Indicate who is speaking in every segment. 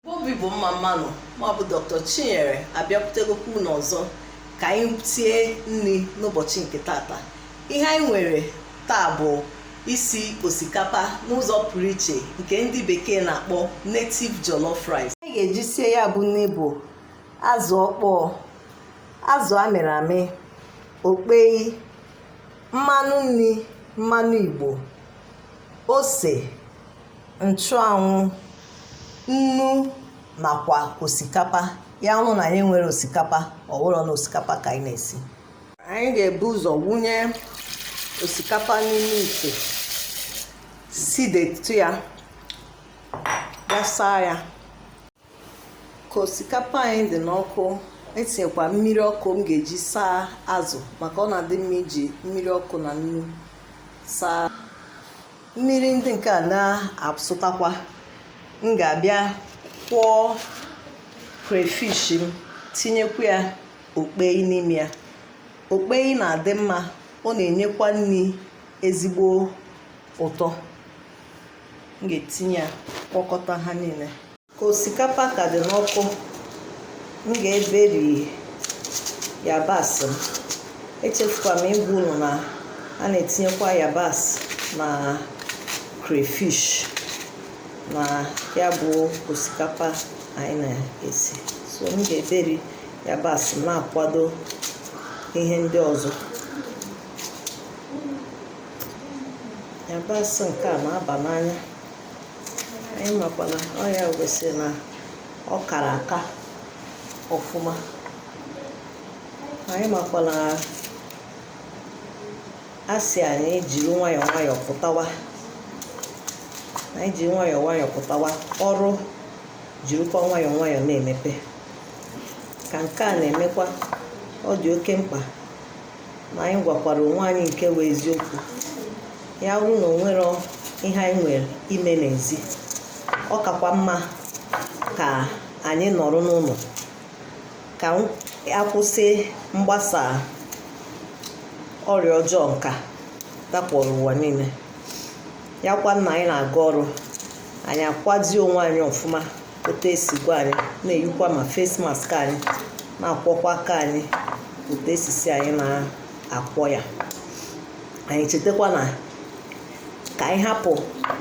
Speaker 1: igbo bụ igbo mma mmanụ mụwa bụ dr chinyere abịakwutegokwa unu ọzọ ka anyị sie nri n'ụbọchị nke tata ihe anyị nwere taa bụ isi osikapa n'ụzọ pụrụ iche nke ndị bekee na-akpọ native jollof rice anyị ga-eji sie ya bụ nri bụ azụ ọkpọọ azụ a mịrị amị okpei mmanụ nri mmanụ igbo ose nchụanwụ nnu nakwa osikapa ya bụrụ na anyị enwerọ osikapa ọ wụrọ na osikapa ka anyị na-esi anyị ga-ebu ụzọ wụnye osikapa n'ime ite sidetụ ya gaa saa ya ka osikapa anyị dị n'ọkụ etinyekwa mmiri ọkụ m ga-eji saa azụ maka ọ na-adị mma iji mmiri ọkụ na nnu saa mmiri ndị nke a na-asụtakwa m ga-abịa kwọọ crayfish m tinyekwa ya okpei n'ime ya okpei na-adị mma ọ na-enyekwa nri ezigbo ụtọ m ga-etinye ya kwọkọta ha niile ka osikapa ka dị n'ọkụ m ga-eberi yabasị m echefukwara m ịgwa unu na a na-etinyekwa yabasị na crayfish na ya bụ osikapa anyị na-esi so m ga-eberi yabasị m na-akwado ihe ndị ọzọ yabasị nke a na-aba n'anya anyị makwa na ọ ya gosi na ọ kara aka ọfụma anyị makwa na a sị anyị jiri nwayọọ nwayọọ pụtawa anyị jiri nwayọọ nwayọọ pụtawa ọrụ jirikwa nwayọọ nwayọọ na-emepe ka nke a na-emekwa ọ dị oke mkpa ma anyị gwakwara onwe anyị nke bụ eziokwu ya bụrụ na o nwerọ ihe anyị nwere ime n'ezi ọ kakwa mma ka anyị nọrọ n'ụlọ ka a kwụsị mgbasa ọrịa ọjọọ nke a dakpọrọ ụwa niile ya kwa na anyị na-aga ọrụ anyị akwazi onwe anyị ọfụma otu e sikwa anyị na-eyikwa ma face mask anyị na-akwọkwa aka anyị otu e si sị anyị na-akwọ ya anyị chetakwa na ka anyị hapụ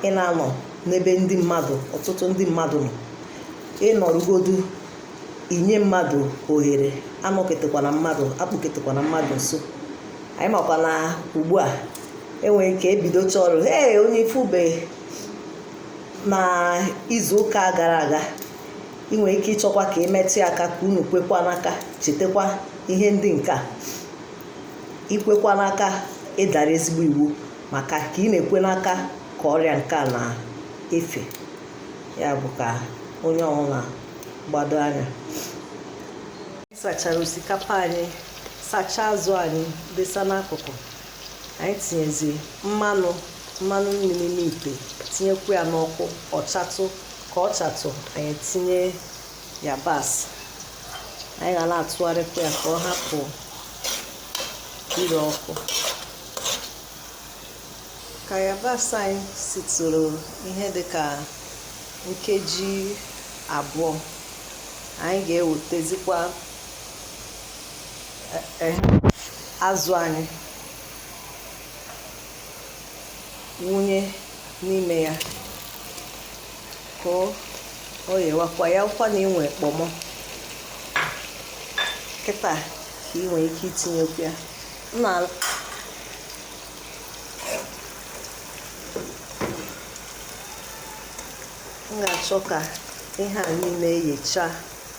Speaker 1: ịna-anọ n'ebe ndị mmadụ ọtụtụ ndị mmadụ nọ ị nọrọgodu i nye mmadụ ohere anọketekwana mmadụ akpụketekwana mmadụ nso anyị makwa na ugbu a e nwere ike ebidocha ọrụ ee onye ifube na izu ụka a gara aga ị nwere ike ịchọkwa ka ị metụ ya aka ka unu kwekwa n'aka chetakwa ihe ndị nke a ikwekwa n'aka ịdara ezigbo iwu maka ka ị na-ekwe n'aka ka ọrịa nke a na-efe ya bụ ka onye ọbụla gbado anya sachara osikapa anyị sachaa azụ anyị desa n'akụkụ anyị tinyezi mmanụ mmanụ nri n'ime ite tinyekwu ya n'ọkụ ọ chatụ ka ọ chatụ anyị tinye yabasị anyị ga na-atụgharịkwa ya ka ọ hapụ ire ọkụ ka yabasị anyị sitụrụ ihe dị ka nkeji abụọ anyị ga-ewetezikwa e, e, azụ anyị wụnye n'ime ya ka o yewakwa ya wụkwa na i nwee kpọmọ kịta ka ị nwee ike itinyekwu ya na m ga-achọ ka ihe a niile yechaa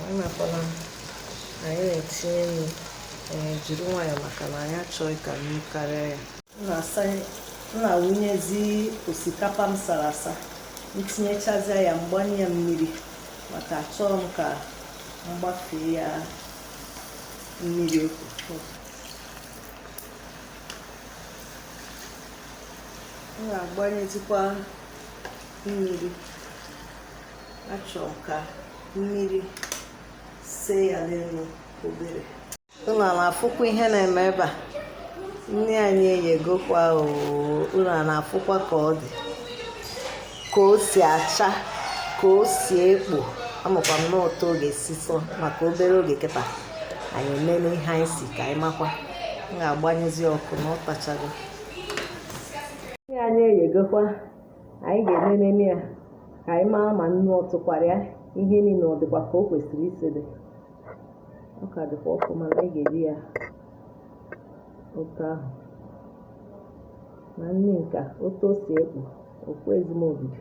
Speaker 1: a makwa na anyị na-etinye nnu ee jiri nwayọọ maka na anyị achọghị ka nnu karịa ya m na-asa m na-awụnyezi osikapa m sara asa m tinyechazịa ya m gbanye ya mmiri maka achọghị m ka m gbafee ya mmiri oke m ga-agbanyezikwa mmiri achọrọ m ka mmiri see ya n'elu obere unu ana-afụkwa ihe na-eme ebe a nri anyị eyegokwa unu ana-afụkwa ka ọ dị ka o si acha ka o si ekpo amakwa m n'ụtọ oge sisọ maka obere oge kịta anyị emela ihe anyị si ka anyị makwa m ga-agbanyezi ọkụ na ọ tachago nri anyị eyegokwa anyị ga-enenene ya ka anyị maa ma nnu ọ tụkwara ya ihe niile ọ dịkwa ka o kwesịrị isi dị ọ ka dịkwa ọkụ mana anyị ga-eri ya otu ahụ na nri nke a otu o si ekpo ọkụ ezigbo obibi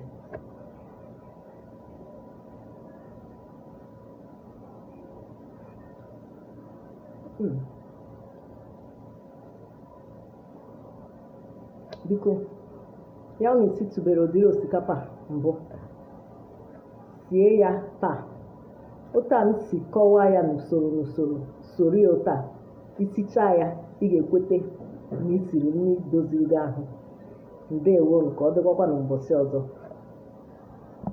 Speaker 1: Mm. biko ya bụrụ na isitụbere ụdịrị osikapa mbụ sie ya taa otu a m si kọwaa ya n'usoro n'usoro soro ya otu a isichaa ya ị ga-ekwete na isiri nri doziri gị ahụ ndewo ka ọ dịkwakwa na mbọsị ọzọ